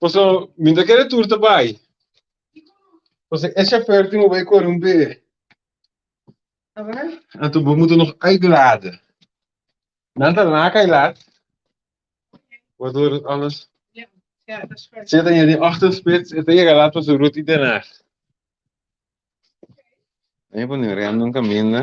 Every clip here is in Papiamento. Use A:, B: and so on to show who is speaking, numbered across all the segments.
A: Pasobra mi ta kere tur ta bai. Pasobra e chauffeur tin oba e kore un be'e.
B: Anto bo motor nog
A: uitladen. Nan ta laga e lat, waardoor dat alles
B: zit en je die ochtendspits
A: e ta yega lat pa su ruta i den nacht. Mei pone rem den caminda.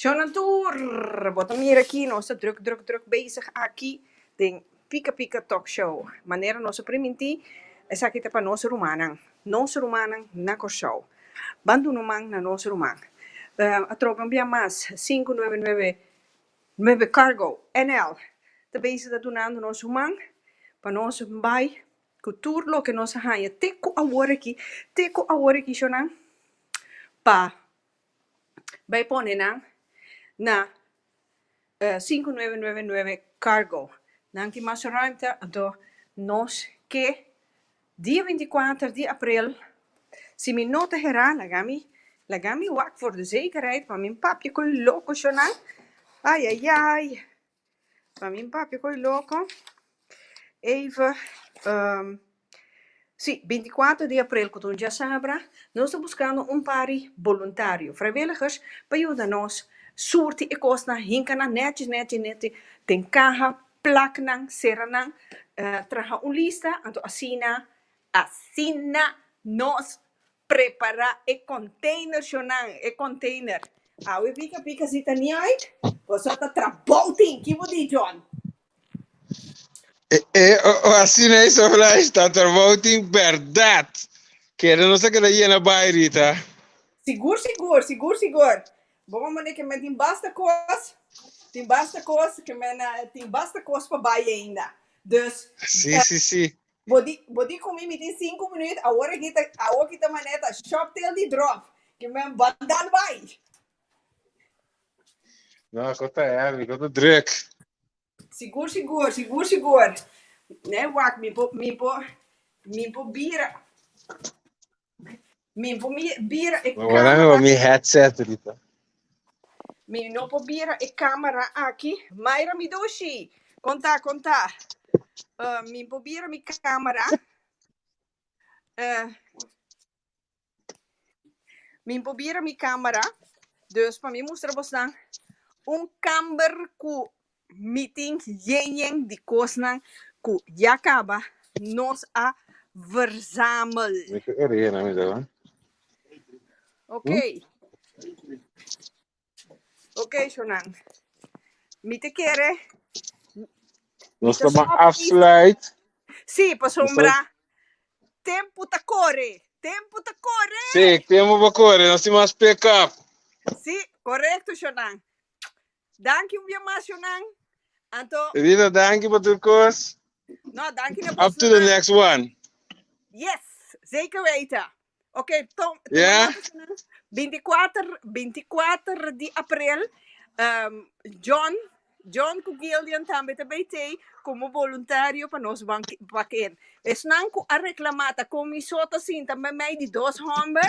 B: Shownan tur! Bo ta mira aki, nos ta drùk, drùk, drùk bezig aki den Pika Pika Talk Show. Manera nos a primintí, esaki ta pa nos rumannan, nos rumannan na Kòrsou. Ban duna un man na nos ruman. A troban bia mas, sinku nuebe nuebe nuebe cargo NL ta bezig ta dunando nos ruman pa nos bai cu tur loke nos a haya te cu awor aki, te cu awor aki shonan pa bay pone nan na sinku nuebe nuebe nuebe cargo nan tin mas ruimte anto nos ke dia binti y kuater di april si mi no ta hera laga mi laga mi wak for de zekerheid pa mi papia con loco shonan ayayay. Pa mi papia cu e loco. Eva, ehm, si, binti kuater di aprel cu ta un diasabra, nos ta buscando un pari boluntario, vrijwilligers, pa yuda nos surti e cosnan, hinca nan netjes, netjes, netjes den caha, plak nan, cera nan, traha un lista, anto asina, asina nos. Prepará e containershonnan, e container. Awe pika pika si ta niaik, boso ta tra bou tin. Ki bo di, John? E,
A: o asina e Soflash ta tra bou tin berdad. Keda nos ta keda yena bai, Rita. Sigur,
B: sigur, sigur, sigur. Bo mama ne ke men tin basta cos, tin basta cos, ke men tin basta cos pa bai ainda. Dus, Si, si, si.
A: Bo di bo di
B: ku mi mi tin sinku minüt awor aki ta awor aki ta manera ta shop tail di dròf ke men bandal bai.
A: No, kos ta heavy, kos ta druk. Sigur
B: sigur, sigur sigur. Nèi wak mi por mi por mi por bira. Mi por mi
A: bira e camera. Bueno, con mi headset ahorita.
B: Mi no por bira e camera aquí. Mayra Midushi, conta, conta. Uh, mi por bira mi camera. Uh, mi por bira mi camera. Dus para mi mostrar vos dan un camber cu mitin yenyen di kosnan ku ya kaba nos a verzamel. Ok. Ok, shonnan. Mi ta kere.
A: Nos ta ban afsluit. Sí,
B: pasobra tempu ta kore. Tempu ta kore!
A: Sí, tempu ta kore. Nos tin mas pekap. Sí,
B: korekto, shonnan. Danki un bia mas yonan. Anto. Edita danki pa
A: tur kos. No danki
B: na bos yonan. Up to the next
A: one. Yes
B: zeker weten ok toma nota yonan
A: binti kuater binti
B: kuater di aprel John John ku Gillian tambe ta bay tey como boluntario pa nos baken esnan ku a reclama ta comiso ta sinta memey di dos homber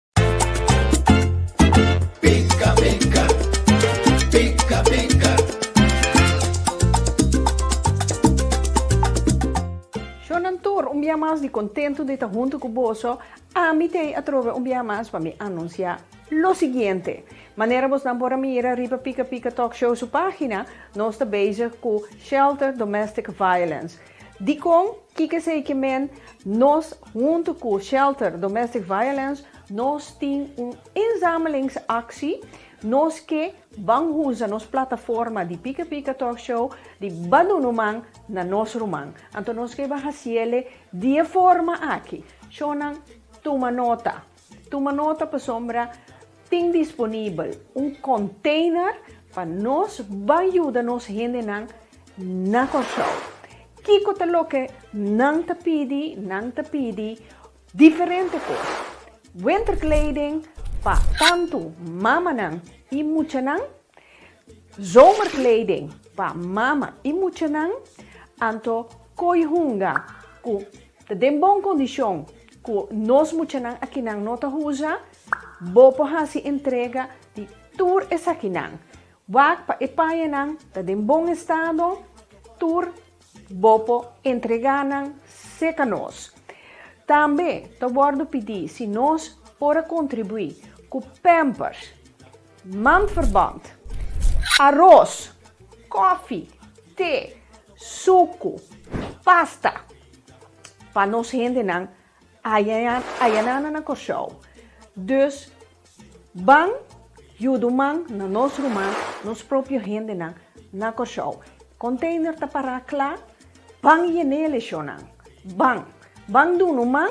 B: kontentu di ta huntu ku boso amitei atrobe un bia mas pa mi anunsiá lo siguiente. Manera bosnan por a mira riba Pika Pika Talk Show su página, nos ta bezig ku Shelter Domestic Violence. Dikon, kiko esei ki men? Nos huntu ku Shelter Domestic Violence nos tin un inzamelingsaksi. Nos ke ban hunsa nos plataforma di Pika Pika Talk Show di ban duna un man na nos ruman. Anto nos ke ban hasiele di e forma aki. Shownan tuma nota. Tuma nota pasobra tin disponibel un container pa nos bai yuda nos hendenan na Kòrsou. Kiko ta loke nan ta pidi? Nan ta pidi diferente kos. Winterkleding pa tantu mamanan i muchanan. Zomerkleding pa mama i muchanan. Anto koi hunga ku ta den bon kondishon Ku nos muchanan akinan no ta huza, bo por hasi entrega di tur esakinan. Wak pa e payanan ta den bon estado tur bo por entrega nan seka nos. Tambe ta wòrdu pidi si nos por a kontribuí ku Pampers. Manverband, aros, kofi, te, suku, pasta pa nos hendenan ayanana na Kòrsou. Dus ban yudu man na nos ruman, nos propio hendenan na Kòrsou. Konteiner ta pará kla, ban yen'é leshonnan. Ban, ban dunu man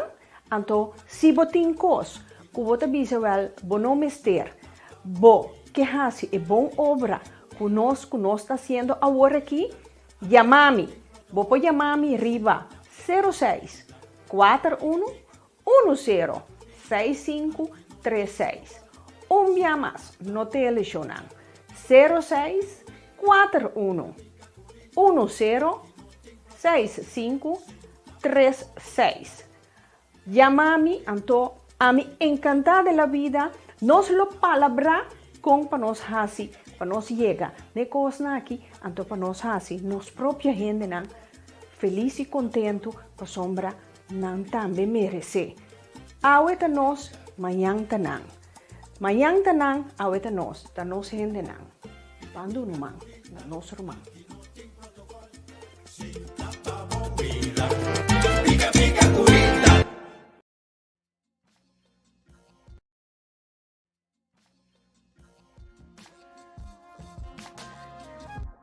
B: Anto, si bo tin kos ku bo ta bisa wèl bo no mester, bo ke hasi e bon obra ku nos ku nos ta hasiendo awor aki, yama mi. Bo por yama mi riba sero seis, kuater unu, unu sero, seis sinku, tres seis. Un bia mas, no te eleshona. Sero seis, kuater unu, unu sero, seis sinku, tres seis Yama mi anto ami encanta de la vida nos lo palabra con pa nos haci pa nos yega n'e cosnan aki anto pa nos haci nos propio hendenan feliz y contento pasobra nan tambe merece awe ta nos mañan ta nan. Mañan ta nan, awe ta nos. Ta nos hendenan. Bandu ruman. Na nos ruman.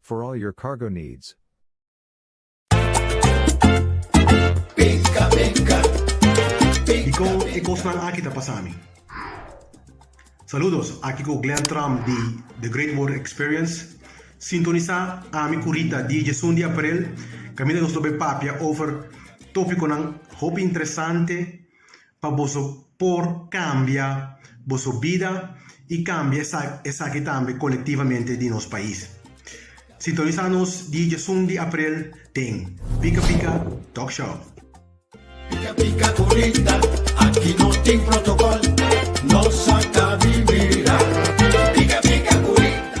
C: For all your cargo needs.
D: Dikon e kosnan aki ta pasa mi? Saludos, aki ku Glen Tram di The Great Word Experience. Sintonisa ami ku Rita di djesun di aprel, kaminda nos lo bay papia over topikonan hopi interesante, pa boso por cambia boso bida y cambia esaki tambe colectivamente di nos pais. Sintoniza nos di djesun di aprel den Pika
E: Pika
D: Talk Show.
E: Pika
D: pika
E: curita,
D: aki no tin protocol, nos a ta vivira, pika pika curita.